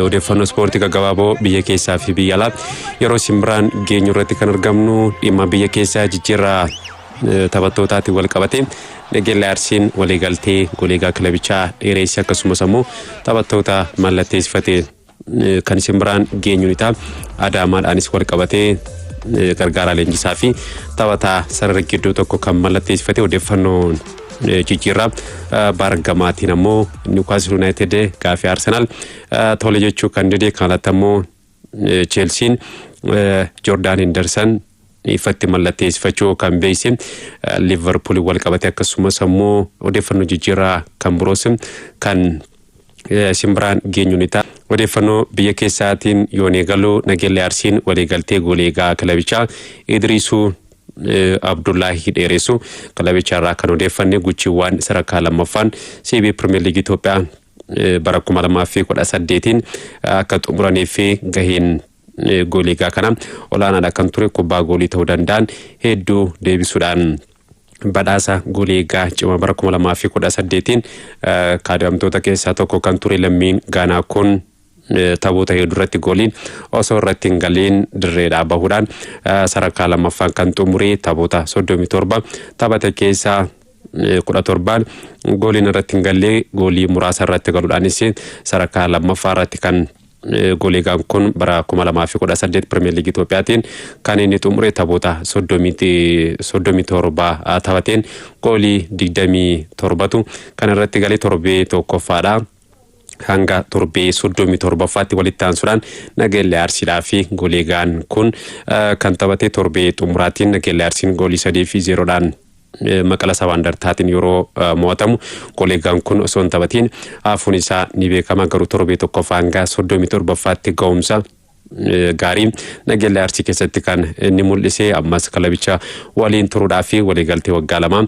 Odeeffannoo ispoortii gaggabaaboo biyya keessaa fi biyya alaa yeroo isin biraan geenyu irratti kan argamnu dhimma biyya keessaa jijjiirraa eh, taphattootaatiin wal qabatee Nageellee Arsiin waliigaltee goleegaa kilabichaa dheereesse akkasumas ammoo taphattoota mallatteessifate eh, kan isin biraan geenyu ni ta'a. Adaamaadhaanis wal qabatee eh, gargaaraa leenjisaa fi taphataa sarara gidduu tokko kan mallatteessifate odeeffannoon jijjiirraa baargamaatiin ammoo niwukaastil yuunaayitid gaafii arsenaal tole jechuu kan dide kan alatti ammoo cheelsiin joordaan hindarsan ifatti mallatteessifachuu kan beeyse liverpuul wal qabate akkasumas ammoo odeeffannoo jijjiirraa kan biroos kan isin biraan geenyu ni ta'a. Odeeffannoo biyya keessaatiin yoon eegalu Nageellee Arsiin waliigaltee goolii eegaa kilabichaa Idriisuu Abdullaahii dheeressu kilabicha irraa kan odeeffanne guchiiwwan sadarkaa lammaffaan CB Pirimeer Liigii Itoophiyaa bara 2018 akka xumuranii fi gaheen goolii egaa kana olaanaadha kan ture kubbaa goolii ta'uu danda'an hedduu deebisuudhaan badhaasa goolii egaa cima bara 2018tiin kaadamtoota keessaa tokko kan ture lammiin gaanaa kun taphoota hedduu irratti gooliin osoo irratti hin galiin dirreedhaa bahuudhaan sadarkaa lammaffaan kan xumuree taphoota 37 taphate keessaa kudha torbaan gooliin irratti hin gallee goolii muraasa irratti galuudhaanis sadarkaa lammaffaa irratti kan Gooliigaan kun bara 2018 Pirimeer Liigii Itoophiyaatiin kan inni xumure taphoota 37 taphateen goolii 27tu kan irratti galee torbee tokkoffaadha. hanga torbee 37ffaatti walitti aansuudhaan Nageellee Arsiidhaa fi Gooliigaan kun kan taphate torbee xumuraatiin Nageellee Arsiin goolii 3 fi 0dhaan maqala sabaandartaatiin yeroo mo'atamu goleegaan kun osoo hin taphatiin hafuun isaa ni beekama garuu torbee tokkoffaa hanga soddomii torbaffaatti ga'umsa gaarii nageellee arsii keessatti kan inni mul'ise ammas kilabicha waliin turuudhaa fi waliigaltee waggaa lamaa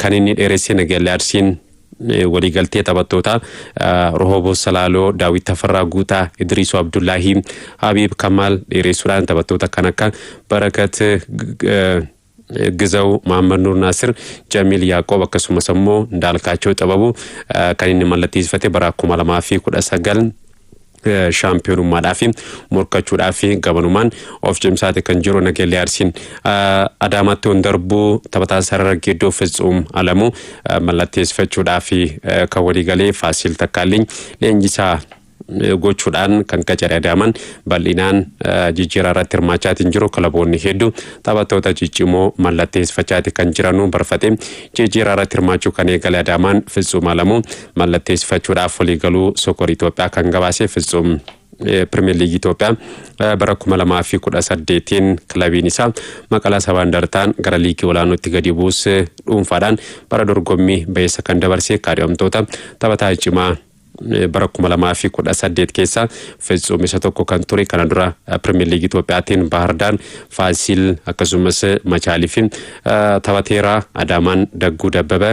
kan inni dheeresse nageellee arsiin waliigaltee taphattoota Rohoboo Salaaloo, Daawit Tafarraa Guutaa, Idriisoo Abdullaahii, Habiib Kamaal dheeressuudhaan taphattoota kan akka Barakat Gizaw, Mahammad Nuur Naasir, Jamiil Yaaqoob akkasumas ammoo Ndaalkaachoo Xababu kan inni mallatteessifate bara 2019 shaampiyoonummaadhaaf morkachuudhaaf gabanumaan of cimsaate kan jiru Nageellee Arsiin Adaamaatti on darbuu taphataa sarara gidduu Fitsuum Alamuu mallatteessifachuudhaaf kan waliigalee Faasiil Takkaalliin leenjisaa gochuudhaan kan qacare Adaamaan bal'inaan jijjiiraa irratti hirmaachaatiin jiru kilaboonni hedduu taphattoota ciccimoo mallatteessifachaati kan jiranuu barfatee jijjiiraa irratti hirmaachuu kan eegale Adaamaan Fitsuum Alamuu mallatteessifachuudhaaf waliigaluu Sokor Itoophiyaa kan gabaase Fitsuum Pirimeer Liigii Itoophiyaa bara 2018tiin kilabiin isaa maqalaa sabaan dartaan gara liigii olaanootti gadi buuse dhuunfaadhaan bara dorgommii ba'eessa kan dabarse kaadhimamtoota taphataa cimaa bara 2018 keessa Fitsuum isa tokko kan ture kana dura Pirimeer Liigii Itoophiyaatiin Baahardaan, Faasiil akkasumas Machaalii fi taphateera Adaamaan Dagguu Dabbaba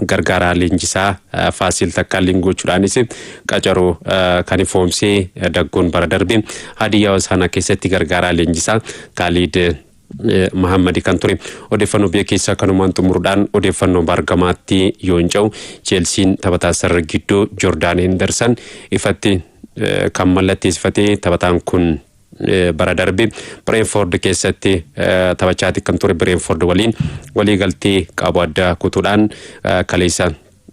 gargaaraa leenjisaa Faasiil Takkaalliin gochuudhaanis qacaroo kan ifoomsee Dagguun bara darbe Hadiyyaa Hosaanaa keessatti gargaaraa leenjisaa Kaaliid Mahammadi kan ture. Odeeffannoo biyya keessaa kanumaan xumuruudhaan odeeffannoo bargamaatti yoo hin ce'u Cheelsiin taphataa sarara gidduu Jordaan Hendersan ifatti kan mallatteessifatee taphataan kun bara darbe Bireenfoord keessatti taphachaati kan ture Bireenfoord waliin waliigaltee qabu adda kutuudhaan kaleessa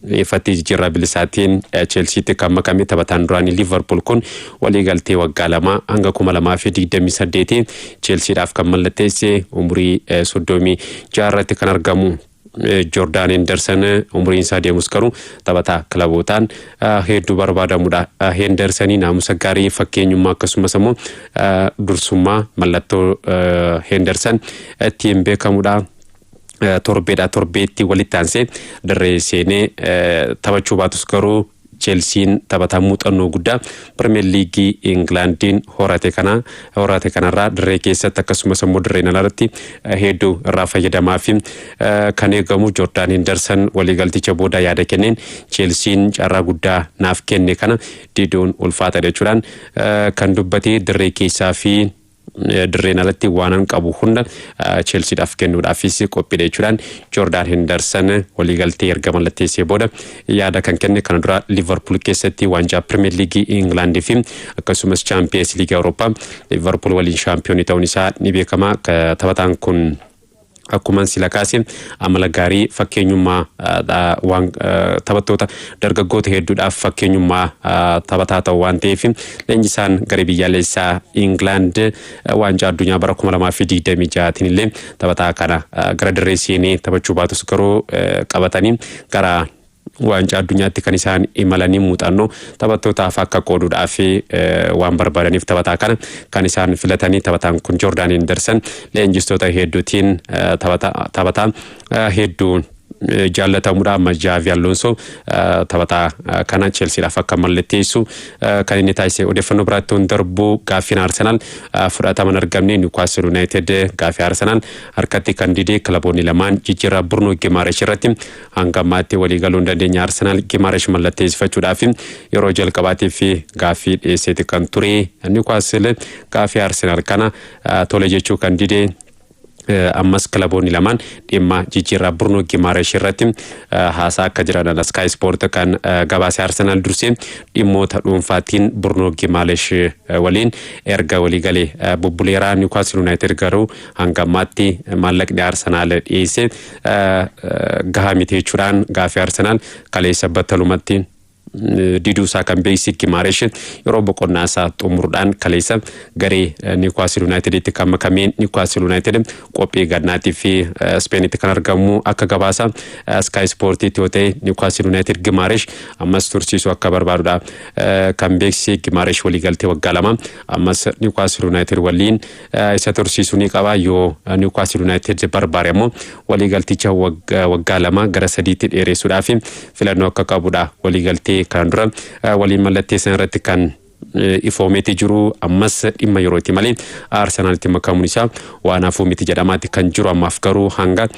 Ifatti jijjiirraa bilisaatiin Cheelsiitti kan makame taphataan duraanii Liivarpuul kun waliigaltee waggaa lamaa hanga 2028 Cheelsiidhaaf kan mallatteesse umurii 36 irratti kan argamu Joordaan Henderson umuriin isaa deemus garuu taphataa kilabootaan hedduu barbaadamudha. Hendersonii naamusa gaarii fakkeenyummaa akkasumas immoo dursummaa mallattoo Henderson ittiin beekamudha. torbeedhaa torbeetti walitti aansee dirree seenee taphachuu baatus garuu Cheelsiin taphataa muuxannoo guddaa Pirimeer Liigii Ingilaandiin horate kana horate kanarraa dirree keessatti akkasumas immoo dirreen alaarratti hedduu irraa fayyadamaa fi kan eegamu Joordaan Hindarsan waliigalticha booda yaada kenneen Cheelsiin carraa guddaa naaf kenne kana diduun ulfaata jechuudhaan kan dubbate dirree keessaa fi dirreen alatti waanan qabu hunda Cheelsiidhaaf kennuudhaafis qophiidha jechuudhaan Joordaan Hendarsan waliigaltee erga mallatteessee booda yaada kan kenne kana dura Liivarpuul keessatti waancaa Pirimeer Liigii Ingilaandii fi akkasumas Chaampiyeens Liigii Awurooppaa Liivarpuul waliin shaampiyoonii ta'uun isaa ni beekama taphataan kun. Akkuman sila kaase amala gaarii fakkeenyummaa dha waan taphattoota dargaggoota hedduudhaaf fakkeenyummaa taphataa ta'u waan ta'eef leenjisaan garee biyyaalessaa Ingilaand waancaa addunyaa bara 2026tiin illee taphataa kana gara dirree seenee taphachuu baatus garuu qabatanii gara Waancaa addunyaatti kan isaan imalanii muuxannoo taphattootaaf akka qooduudhaa fi waan barbaadaniif taphataa kana kan isaan filatanii taphataan kun Joordaan Henderson leenjistoota hedduutiin taphataa hedduun jaallatamudha amma Jaavi Alonso taphataa kana Chelsiidhaaf akka mallatteessu kan inni taasise odeeffannoo biraatti hin darbu gaaffiin Arsenaal fudhatama hin argamne Niwukaastil Yuunaayitid gaaffii Arsenaal harkatti kan dide kilaboonni lamaan jijjiirraa Burno Gimaarash irratti Hanga ammaatti walii galuu hin dandeenye Arsenaal Gimaresh mallatteessifachuudhaaf yeroo jalqabaatiif gaaffii dhiyeesseeti kan ture. Niwukaastil gaaffii Arsenaal kana tole jechuu kan dide ammas kilaboonni lamaan dhimma jijjiirraa Birnoo Gimaaresh irratti haasaa akka jiran Sky Sport kan gabaase Arsenaal dursee dhimmoota dhuunfaatiin Birnoo Gimaaresh waliin erga waliigalee bubbuleeraa Niwukaastil Yuunaayitid garuu hanga ammaatti maallaqni Arsenaal dhiyeesse gahaa miti jechuudhaan gaaffii Arsenaal kaleessa battalumatti diduu isaa kan beeksise Gimaaresh yeroo boqonnaa isaa xumuruudhaan kaleessa garee Niwukaastil Yuunaayitiditti kan makamee Niwukaastil Yuunaayitid qophii gannaattii fi Ispeenitti kan argamu akka gabaasa Sky Ispoortiitti yoo ta'e Niwukaastil Yuunaayitid Gimaaresh ammas tursiisuu akka barbaadudha kan beeksise Gimaaresh waliigaltee waggaa lama ammas Niwukaastil Yuunaayitid waliin isa tursiisuu ni qaba yoo Niwukaastil Yuunaayitid barbaade ammoo waliigalticha waggaa lama gara sadiitti dheeressuudhaaf filannoo akka qabudha waliigaltee kanaan dura waliin mallatteessan irratti kan ifoomeeti jiru ammas dhimma yerooti malee Arsenaalitti makamuun isaa waan hafuu miti jedhamaatti kan jiru ammaaf garuu hanga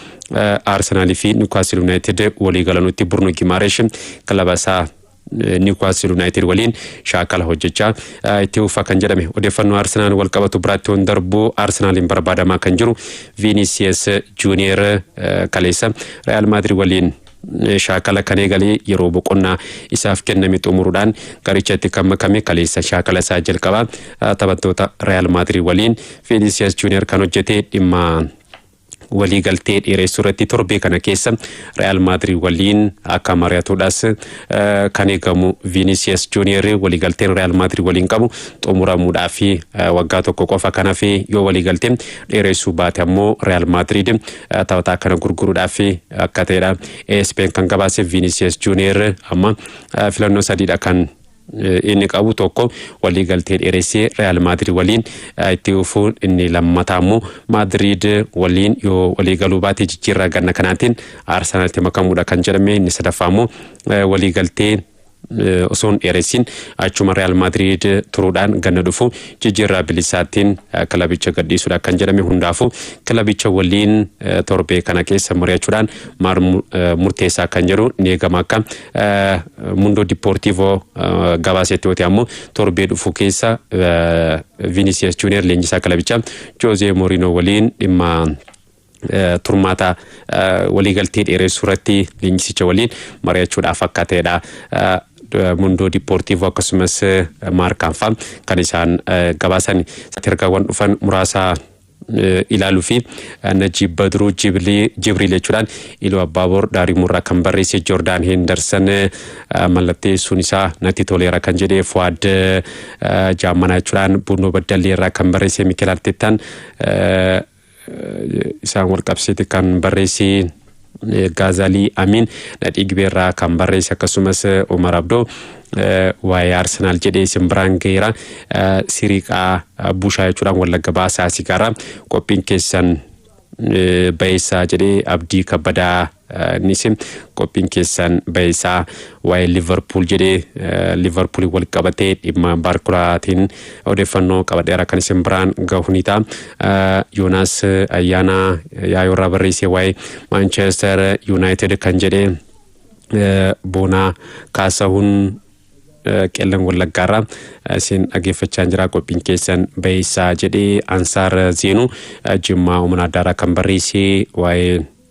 Arsenaalii fi Niwukaastil Yuunaayitid waliigalanutti Burnu Gimaaresh kilaba isaa Niwkaastil Yuunaayitid waliin shaakala hojjechaa itti fufa kan jedhame odeeffannoo Arsenaal wal qabatu biraatti yoon darbu Arsenaaliin barbaadamaa kan jiru Viinisiyees Juuniyeer kaleessa Riyaal Maadirid waliin shaakala kan eegalee yeroo boqonnaa isaaf kenname xumuruudhaan garichatti kan makame kaleessa shaakala isaa jalqabaa taphattoota Riyaal Maadirid waliin Viinisiyees Juuniyeer kan hojjete dhimma waliigaltee dheereessuu irratti torbee kana keessa Real Madrid waliin akka mari'atuudhas eh, kan eegamu Vinicius Junior waliigalteen Real Madrid waliin qabu xumuramuudhaa fi eh, waggaa tokko qofa kan hafe yoo waliigaltee dheereessuu baate ammoo Real Madrid eh, taphataa kana gurguruudhaa fi akka ta'edha. ASPn kan gabaase Vinicius Junior amma eh, filannoo sadiidha kan inni qabu tokko waliigaltee dheeressee Real Madrid waliin itti fufuun inni lammataa immoo Madrid waliin yoo waliigaluu baate jijjiirraa ganna kanaatiin Arsenaltti makamuudha kan jedhame inni sadaffaa immoo waliigaltee osoo hin dheeressin achuma Real Madrid turuudhaan ganna dhufu jijjiirraa bilisaattiin kilabicha gadhiisuudha kan jedhame hundaafuu kilabicha waliin torbee kana keessa mari'achuudhaan murteessaa kan jedhu ni eegama akka Mundoo Dippoortiivoo gabaasetti yoo ta'e ammoo torbee dhufu keessa Vinicius Junior leenjisaa kilabichaa Joozee Mooriinoo waliin dhimma turmaata waliigaltee dheeressuu irratti leenjisicha waliin mari'achuudhaaf akka ta'edha. Mundoo Dippoortiivoo akkasumas Maarkaanfaa kan isaan gabaasan ergaawwan dhufan muraasaa ilaaluu fi Najiib Badruu Jibriil jechuudhaan Iluu Abbaaboor Daarimuurraa kan barreesse Joordaan Heendarsan mallatteessuun isaa natti toleera kan jedhe Fuwaad Jaammanaa jechuudhaan Bunnoo Baddalleerraa kan barreesse Mikeel Arteettaan isaan wal qabsiiti kan barreesse. Gaazaalii Amiin nadhii gibeerraa kan barreesse akkasumas Umar Abdoo waa'ee Arsenaal jedhee isin biraan gaheera siriiqaa bushaa jechuudhaan wallagga baasaa sigaara qophiin keessan bayeessaa jedhee abdii kabbadaa nisi qophiin keessan bayeessaa Waa'ee Liverpool jedhee Liverpool wal qabatee dhimma Baarkulaatiin odeeffannoo qabadheera kan isin biraan gahu ni ta'a. Yoonaas Ayyaanaa yaayoo irraa barreessee waa'ee Manchester United kan jedhee boonaa kaasahuun qellan wallaggaarraa isin dhaggeeffachaa jira qophiin keessan bayeessaa jedhee ansaar zeenuu jimmaa umana addaarraa kan barreessee waa'ee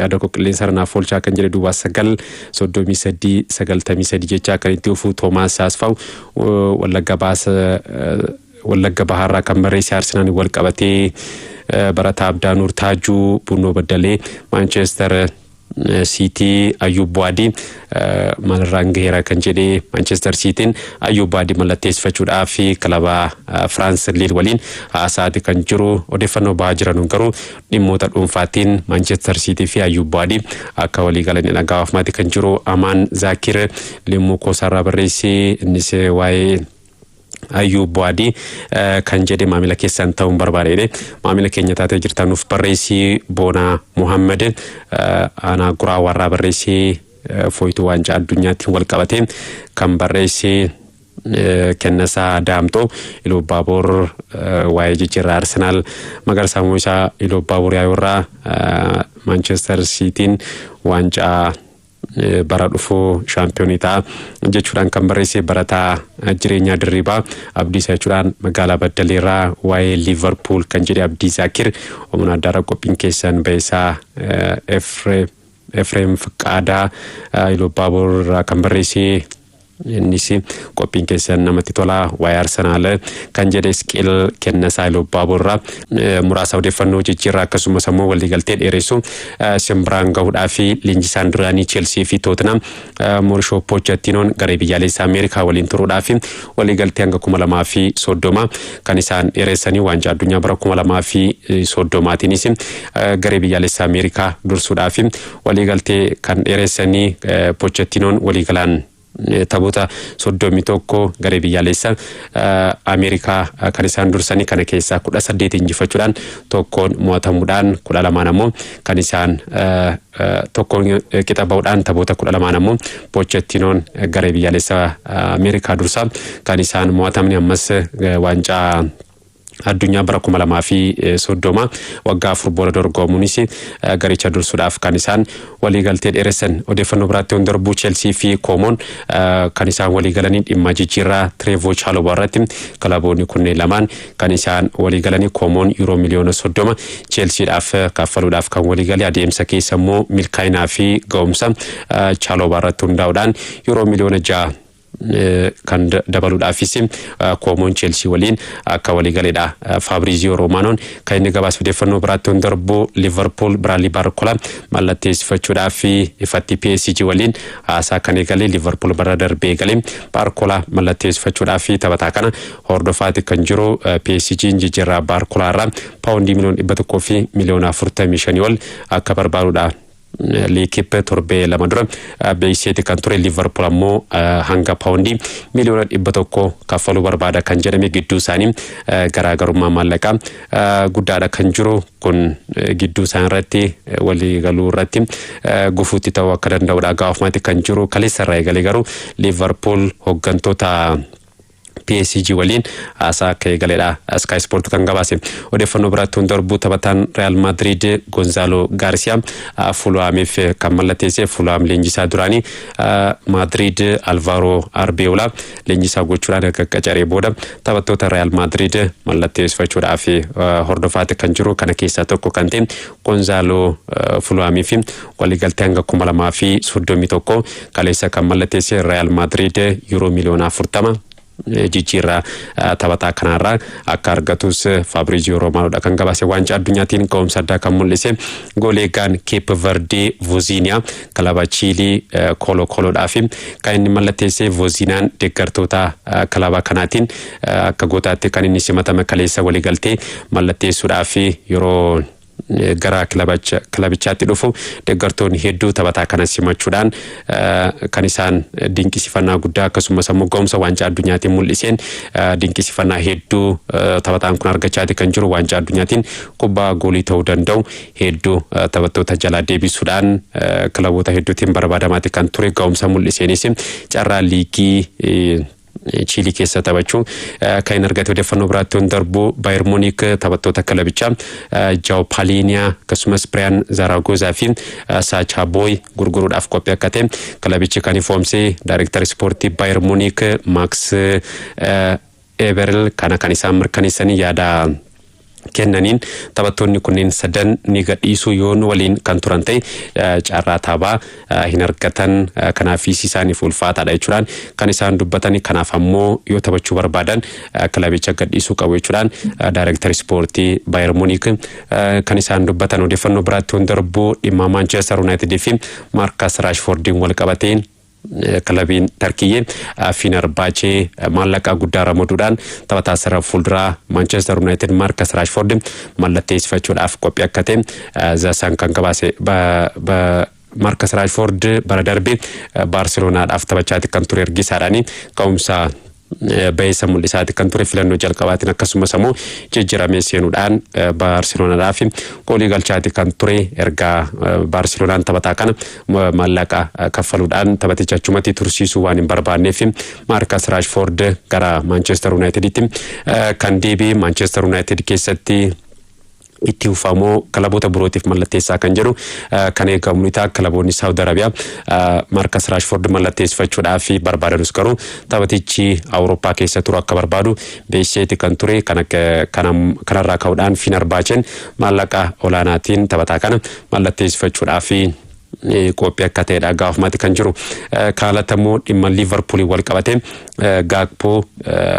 yaada koo qilleensa irra naaf oolchaa kan jedhe duwwaa sagal soddomii sadii sagaltamii sadii jechaa kan itti dhufu Toomaas Saasfaw wallagga baasa wallagga bahaarraa kan barreesse Arsenaan wal qabatee barataa Abdaa Nuur Taajuu Bunnoo Baddalee Maanchester Siitii Ayyuub Bu'aadii maalirraan gaheera kan jedhe Maanchester Siitiin Ayyuub Bu'aadii mallatteessifachuudhaa fi kilaba Firaans Liil waliin haasa'aati kan jiru odeeffannoo bahaa jiranuun garuu Dhimmoota dhuunfaattiin Maanchester Siitii fi Ayyuub Bu'aadii akka walii galan hin dhaga'aafmaati kan jiru Amaan Zaakir limmuu koosaarraa barreessi innis waa'ee Ayyuub Bu'aadii kan jedhe maamila keessan ta'uun barbaadee maamila keenya taatee jirtan nuuf barreessi Boonaa Muhammad aanaa guraa warraa barreessi fooyituu waancaa addunyaatiin wal qabatee kan barreessi Kennasaa Daamxoo Iluubbaaboor waa'ee jijjiirraa Arsenaal Magarsaa Mo'isaa Iluubbaaboor Yaayoorraa Maanchestar Siitiin waancaa bara dhufuu shaampiyoonii ta'a jechuudhaan kan barreesse barataa jireenyaa dirriibaa Abdiisaa jechuudhaan magaalaa Baddaleerraa waa'ee Liivarpuul kan jedhe Abdii Zaakir Omna Addaarra qophiin keessan ba'eessaa Efreem Fiqaadaa Iluubbaaboor irraa kan barreesse Innis qophiin keessan namatti tola waa'ee Arsenaal kan jedhe Isqeel Kennasaa Ilubbaaboorraa muraasa odeeffannoo jijjiirraa akkasumas ammoo waliigaltee dheeressu isin biraan gahuudhaa fi leenjisaan duraanii Cheelsii fi Tootinam Moorishoo Poochettinoon garee biyyaalessa Ameerikaa waliin turuudhaa fi waliigaltee hanga kuma lamaa fi soddoma kan isaan dheeressanii waancaa addunyaa bara kuma lamaa fi soddomaatiinis garee biyyaalessa Ameerikaa dursuudhaa fi Waliigaltee kan dheeressanii Pochettinoon waliigalaan taphoota 31 garee biyyaaleessa Ameerikaa kan isaan dursanii kana keessaa 18 injifachuudhaan tokkoon mo'atamuudhaan 12 ammoo kan isaan tokkoon qixa ba'uudhaan taphoota 12 ammoo Pochettinoon garee biyyaaleessa Ameerikaa dursaa kan isaan mo'atamni ammas waancaa addunyaa bara 2030 waggaa afur booda dorgoomuunis garicha dursuudhaaf kan isaan waliigaltee dheeressan. Odeeffannoo biraatti yoon darbuu Cheelsii fi Koomoon kan isaan waliigalanii dhimma jijjiirraa Tireevoo Chaalobaa irratti kilaboonni kunneen lamaan kan isaan waliigalanii Koomoon yuuroo miliyoona 30 Cheelsiidhaaf kaffaluudhaaf kan waliigale adeemsa keessa immoo milkaa'inaa fi ga'umsa Chaalobaa irratti hundaa'uudhaan yuuroo miliyoona 6 kan dabaluudhaafis koomoon Cheelsii waliin akka waliigaledha. Faabriiziyoo Roomaanoon kan inni gabaas odeeffannoo biraatti yoon darbu Liverpool Biraadlii Baarkolaa mallatteessifachuudhaaf ifatti PSG waliin haasaa kan eegale Liverpool bara darbee eegale Baarkolaa mallatteessifachuudhaaf taphataa kana hordofaati kan jiru PSG jijjiirraa Baarkolaa irraa paawundii miliyoona dhibba tokkoo fi miliyoona afurtamii shanii ol akka barbaadudha. Liikippe torbee lama dura beeksiseeti kan ture Liivarpuul ammoo hanga paawundii miliyoona dhibba tokko kaffaluu barbaada kan jedhame gidduu isaanii garaagarummaa maallaqaa guddaadha kan jiru kun gidduu isaan irratti walii galuu irratti gufuutti ta'uu akka danda'udha gaafamati kan jiru kaleessa irraa eegalee garuu Liivarpuul hooggantoota PSG waliin haasaa akka eegaledha Sky Sport kan gabaase. Odeeffannoo biraatti hunda darbuu taphataan Real Madrid Gonzalo Garcia Fulhaamiif kan mallatteesse Fulhaam leenjisaa duraanii Madrid Alvaro Arbeola leenjisaa gochuudhaan erga qacaree booda taphattoota Real Madrid mallatteessifachuudhaaf hordofaatti kan jiru kana keessaa tokko kan ta'e Gonzalo Fulhaamiif Waliigaltee hanga 2031 kaleessa kan mallatteesse Real Madrid yuuroo miliyoona 40 jijjiirraa taphataa kanaarraa akka argatus Fabrizio Romanoodha kan gabaase waancaa addunyaatiin ka'umsa addaa kan mul'ise goolee eegaan Keep Verdee Voziiniyaa kilaba Chiilii Koolo Kooloodhaa fi kan inni mallatteesse Voziiniyaan deeggartoota kilaba kanaatiin akka gootaatti kan inni simatame kaleessa waliigaltee mallatteessuudhaa fi yeroo gara kilabichaatti dhufu deeggartoonni hedduu taphataa kana simachuudhaan kan isaan dinqisifannaa guddaa akkasumas ammoo ga'umsa waancaa addunyaatiin mul'iseen dinqisifannaa hedduu taphataan kun argachaati kan jiru waancaa addunyaatiin kubbaa goolii ta'uu danda'u hedduu taphattoota jalaa deebisuudhaan kilaboota hedduutiin barbaadamaati kan ture ga'umsa mul'iseenis carraa liigii Chiilii keessa taphachuu akka hin argate odeeffannoo biraatti yoon darbu Baayir Muuniik taphattoota kilabichaa Jaaw Paaliiniyaa akkasumas Biriyaan Zaaraagozaa fi Saachaa Booy gurguruudhaaf qophii akka ta'e kilabichi kan ifoomse daayireektar ispoortii Baayir Muuniik Maaks Eberil kana kan isaan mirkaneessanii yaada kennaniin taphattoonni kunneen sadan ni gadhiisuu yoo nu waliin kan turan ta'e carraa taabaa hin argatan kanaafis isaaniif ulfaataadha jechuudhaan kan isaan dubbatan kanaaf ammoo yoo taphachuu barbaadan kilabicha gadhiisuu qabu jechuudhaan daayireektar ispoortii Baayer Muuniik kan isaan dubbatan odeeffannoo biraatti hunda darbuu dhimma Maanchestar Yuunaayitidii fi Maarkas Raashfoordiin wal qabateen Kilabiin Tarkiyyee Fiinarbaachee maallaqa guddaa ramaduudhaan taphataa sarara fuulduraa Maanchestar Yuunaayitid Maarkas Raashfoord mallatteessifachuudhaaf qophii akka ta'e Zaasaan kan gabaase Maarkas Raashfoord bara darbe Baarseloonaadhaaf taphachaati kan ture ergisaadhaani ka'umsa bayeessa mul'isaati kan ture filannoo jalqabaatiin akkasumas ammoo jijjiramee seenuudhaan Baarseloonaadhaaf goolii galchaati kan ture erga Baarseloonaan taphataa kana maallaqa kaffaluudhaan taphaticha achumatti tursiisuu waan hin barbaanneef Maarkas Raashfoord gara Maanchestar Yuunaayitiditti kan deebi'e Maanchestar Yuunaayitid keessatti itti fufaa moo kilaboota birootiif mallatteessaa kan jedhu kan eegamu ni ta'a. Kilaboonni Saawud Arabiyaa Markas Raashford mallatteessifachuudhaaf barbaadanus garuu taphatichi Awurooppaa keessa turu akka barbaadu beeksiseeti kan ture. Kanarraa ka'uudhaan Finar Baacheen maallaqa olaanaatiin taphataa kana mallatteessifachuudhaaf qophii akka ta'edha gaafumatti kan jiru. Kaalata immoo dhimma Liivarpuuliin wal qabate Gaakpoo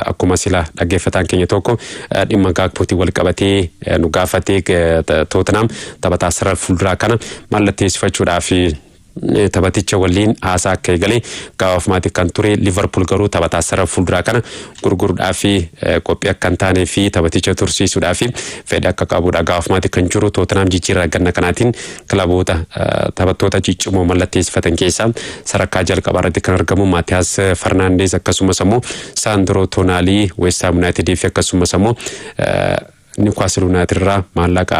akkuma sila dhaggeeffataan keenya tokko dhimma Gaakpootiin wal qabatee nu gaafatee Tootenaam taphataa sarara fuulduraa kana mallatteessifachuudhaaf taphaticha waliin haasaa akka eegale gaafumatti kan ture Liivarpuul garuu taphataa sarara fuulduraa kana gurguruudhaaf qophii akka hin taanee fi taphaticha tursiisuudhaaf fedha akka qabudha. Gaafmaati kan jiru Tootenaam jijjiirraa ganna kanaatiin kilaboota taphattoota ciccimoo mallatteessifatan keessaa sadarkaa jalqabaa irratti kan argamu Maatiyaas Farnaandees akkasumas ammoo Saandroo Toonaalii Weestaam Yuunaayitidii fi akkasumas ammoo Niwukaastil Yuunaayitid irraa maallaqa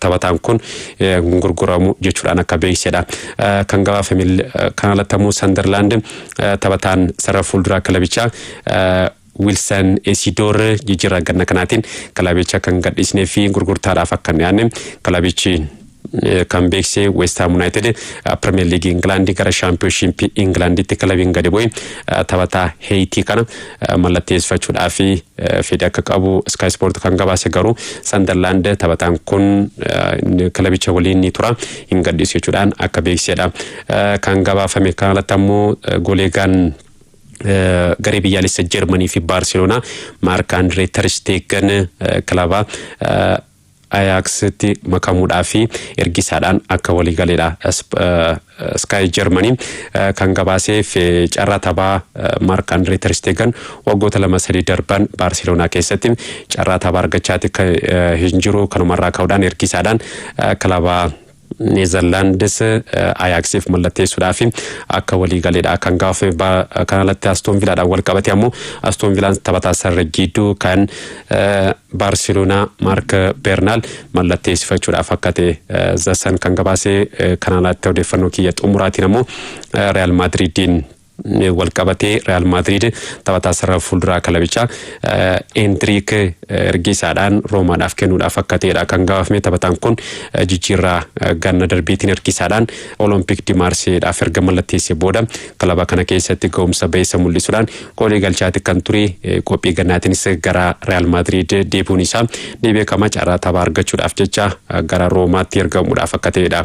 taphataan kun gurguramu jechuudhaan akka beeksedha kan gabaafame kan alatti ammoo sandarlaand taphataan sarara fuulduraa kilabichaa Wilson Esidoor jijjiirraa ganna kanaatiin kilabicha kan gadhiisnee fi gurgurtaadhaaf akka hin dhiyaanne kilabichi kan beekse Westaam Yunaayitid Pirimeer Liigii Ingilaandii gara Shaampiyoonshiippii Ingilaandiitti kilabiin gadi bu'e taphataa Heeyitii kana mallatteessifachuudhaaf fedhii akka qabu Sky Sport kan gabaase garuu Sandarlaand taphataan kun kilabicha waliin ni tura hin gadhiisu jechuudhaan akka beeksisedha. Kan gabaafame kan alatti ammoo goleegaan garee biyyaalessa Jarmanii fi Baarseloonaa Maark Andree Tarsteegen kilaba Ayaaksitti makamuudhaaf ergisaadhaan akka waliigaleedha Sky Germany kan gabaaseef carraa taphaa Mark Andre Ter Stegen waggoota lama sadii darban Baarseloonaa keessatti carraa taphaa argachaati hin jiru kanumarraa ka'uudhaan ergisaadhaan kilaba Neezarlaandis Ayaaksiif mallatteessuudhaaf akka walii galeedha kan gaafame bara kana alatti Astoon Vilaadhaan wal qabate ammoo Astoon Vilaan taphataa sarara jiidduu kan Baarseloonaa Maark Beernaal mallatteessifachuudhaaf akka ta'e Zasan kan gabaase kana alatti odeeffannoo kiyya xumuraatiin ammoo Real Maadriidiin walqabatee Real Madrid taphataa sarara fuulduraa kilabichaa Endriik erga isaadhaan Roomaadhaaf kennuudhaaf akka ta'edha kan gabaafame taphataan kun jijjiirraa ganna darbeetiin erga isaadhaan Olompik di Maarseedhaaf erga mallatteesse booda kilaba kana keessatti ga'umsa ba'eessa mul'isuudhaan goolii galchaati kan ture qophii gannaatiinis gara Real Madrid deebi'uun isaa ni beekama carraa taphaa argachuudhaaf jecha gara Roomaatti ergamuudhaaf akka ta'edha